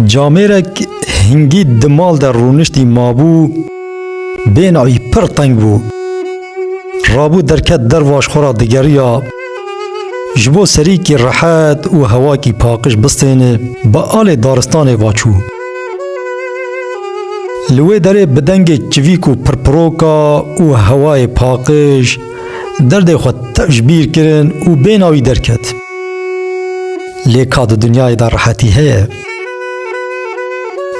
Camêrek hingî di mal de rûniştî mabû, bên wî pir teng bû. Rabû derket dervaş xwe ra digeriya, ji bo serîkî rehet û hewakî paqij bistêne, bi alê daristanê va çû. Li wê derê bi dengê çivîk û pirpiroka û hewayê paqij, Derdê xwe ji bîr kirin û bêhna wî derket. Lê ka di dinyayê de rehetî heye?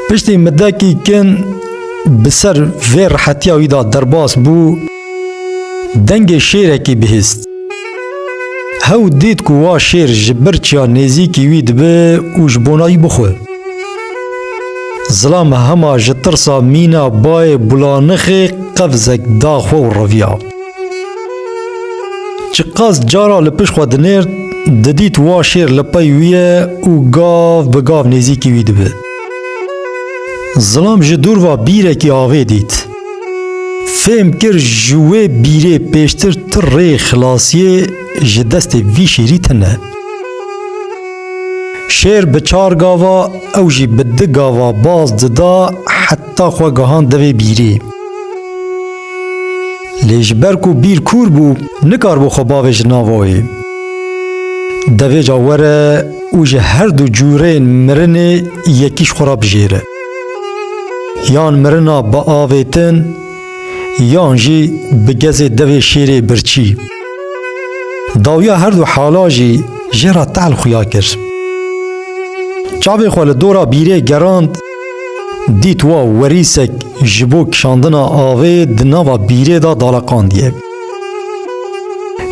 Piştî midekî kin bi ser vê rehetiya wî de derbas bû, dengê şêrekî bihîst. Hew dît ku wa şêr ji birçiya nêzîkî wî dibe û ji bona wî bixwe. Zilam hema ji tirsa mîna bayê bulanixê qevzek da xwe û reviya. Ji qas cara li pişt xwe dinêrt, didît wa şêr li pey wî ye û gav bi gav nêzîkî wî dibe. Zilam ji dûr ve bîrekî avê dît. Fêm kir ji wê bîrê pêştir ti rê xilasiyê ji destê vî şêrî tune. Şêr bi çar gava, ew jî bi di gava baz dida heta xwe gihand devê bîrê. Lê ji ber ku bîr kûr bû, nikaribû xwe bavê ji nav oê. Devê ca were û ji her du cûrên mirinê yekî ji xwe re bijêre. Yan mirina biavêtin, yan jî bi gezê devê şêrê birçî. Dawiya her du hala jî jê re tehl xuya kir. Çavê xwe li dora bîrê gerand, dît wa werîsek ji bo kişandina avê di nava bîrê de daleqandiye.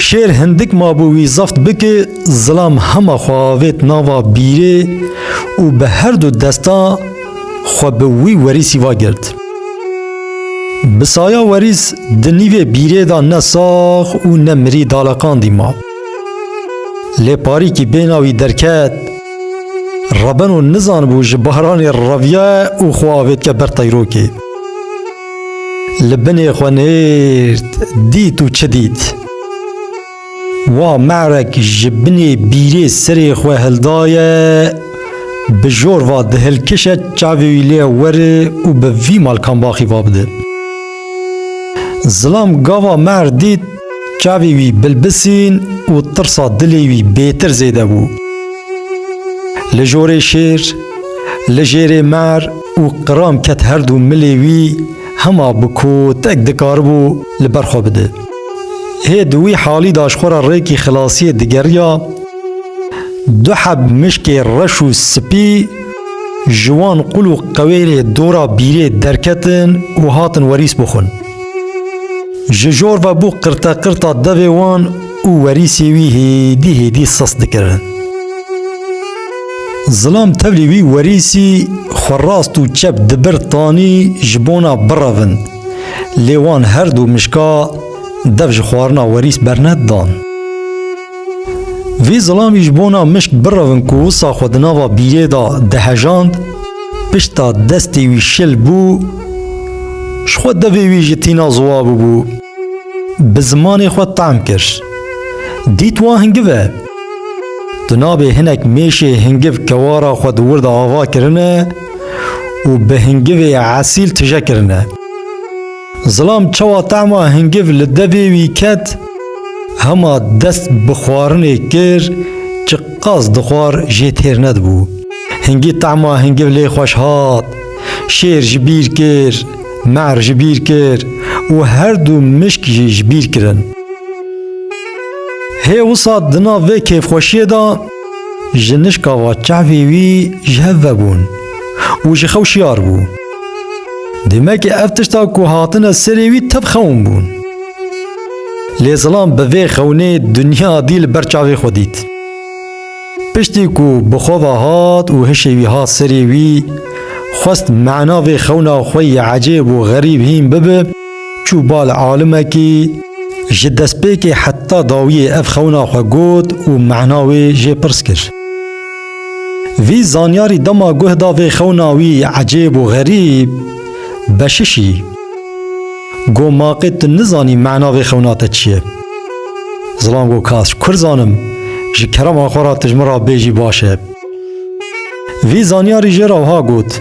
Şêr hindik mabû wî zeft bike, zilam hema xwe avêt nava bîrê û bi her du desta Xwe bi wî werîsî va girt. Bi saya werîs di nîvê bîrê de ne sax û ne mirî daleqandî ma. Lê parîkî bêhna wî derket. Rebeno nizanibû ji baranê reviye û xwe avêtke ber teyrokê. Li binê xwe nêrd, dît û çi dît? Wa merek ji binê bîrê serê xwe hildaye, bi jor va dihilkişe çavê wî lê were û bi vî malkambaxî va bide. Zilam gava mer dît çavê wî bilbisîn û tirsa dilê wî bêtir zêde bû. Li jorê şêr, li jêrê mer û qiram ket herdu milê wî, Hema bi ku tek dikaribû li ber xwe bide. Hê di wî halî de ji xwe re rêkî xilasiyê digeriya. Du heb mişkê reş û spî ji wan qul û qewêrê dora bîrê derketin û hatin werîs bixwin. Ji jor ve bû qirteqirta devê wan û werîsê wî hêdî hêdî sist dikirin. Zilam tevlî wî werîsî xwe rast û çep di bir tanî ji bona birevin. Lê wan her du mişka dev ji xwarina werîs bernedan. Vî zilamî ji bona mişk birevin ku wisa xwe di nava bîrê de dihejand, pişta destê wî şil bû, ji xwe devê wî ji tîna ziwa bûbû. Bi zimanê xwe tam kir. Dît wan hingiv e. Di navê hinek mêşê hingiv kewara xwe di wir de ava kirine û bi hingivê esîl tije kirine. Zilam çawa tema hingiv li devê wî ket, hema dest bi xwarinê kir çi qas dixwar jê têr nedibû. Hingî tema hingiv lê xweş hat. Şêr ji bîr kir, me'er ji bîr kir û her du mişk jî ji bîr kirin. Hê wisa di nav vê kêfxweşiyê de ji nişka va çavê wî ji hev vebûn û ji xew şiyar bû. Demekê ev tişta ku hatine serê wî tev xewn bûn. Lê zilam bi vê xewnê dinya dî li ber çavê xwe dît. Piştî ku bi xwe ve hat û hişê wî hat serê wî, xwest mena vê xewna xwe yê ecêb û xerîb hîn bibe, Çû bal alimekî, ji destpêkê heta dawiyê ev xewna xwe got û mana wê jê pirs kir. Vî zanyarî dema guh da vê xewna wî ecêb û xerîb, Beşişî, got maqê tu nizanî mana vê xewna te çi ye? Zilam got kas, kur zanim, ji kerema xwe re tu ji min re bêjî baş e. Vî zanyarî jê re wiha got,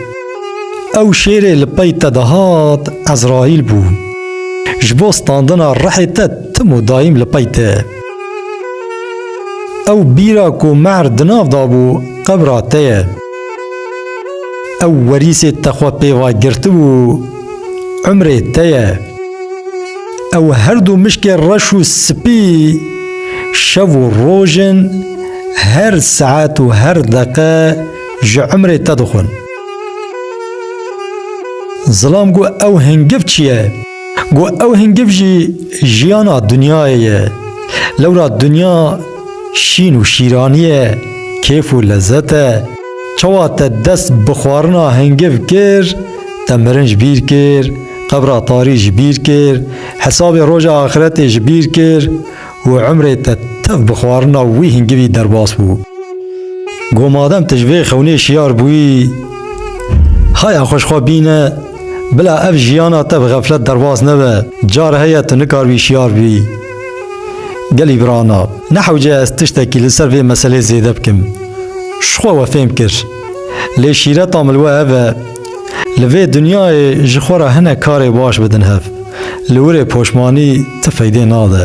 Ew şêrê li pey te de hat Ezraîl bû. Ji bo standina rihê te tim û dayîm li pey te. Ew bîra ku mehr di nav de bû qebra te ye. Ew werîsê te xwe pê ve girtibû, umrê te ye. Ew her du mişkê reş û spî şev û roj in, her saet û her deqe ji umrê te dixwin. Zilam got ew hingiv çi ye? Got ew hingiv jî jiyana dinyayê ye. Lewra dinya şîn û şîranî ye, kêf û lezet e. Çawa te dest bi xwarina hingiv kir, te mirin ji bîr kir. Qebra tarî ji bîr kir, hesabê roja axiretê ji bîr kir û emrê te tev bi xwarina wî hingivî derbas bû. Got madem tu ji vê xewnê şiyar bûyî, haya xwe ji xwe bîne, bila ev jiyana te bi xeflet derbas nebe, car heye tu nikaribî şiyar bî. Gelî birana, nehewce ez tiştekî li ser vê meselê zêde bikim. Ji xwe we fêm kir. Lê şîreta min li we ev e, Li vê dinyayê ji xwe re hinek karê baş bidin hev. Li wir ê poşmanî ti feydê nade.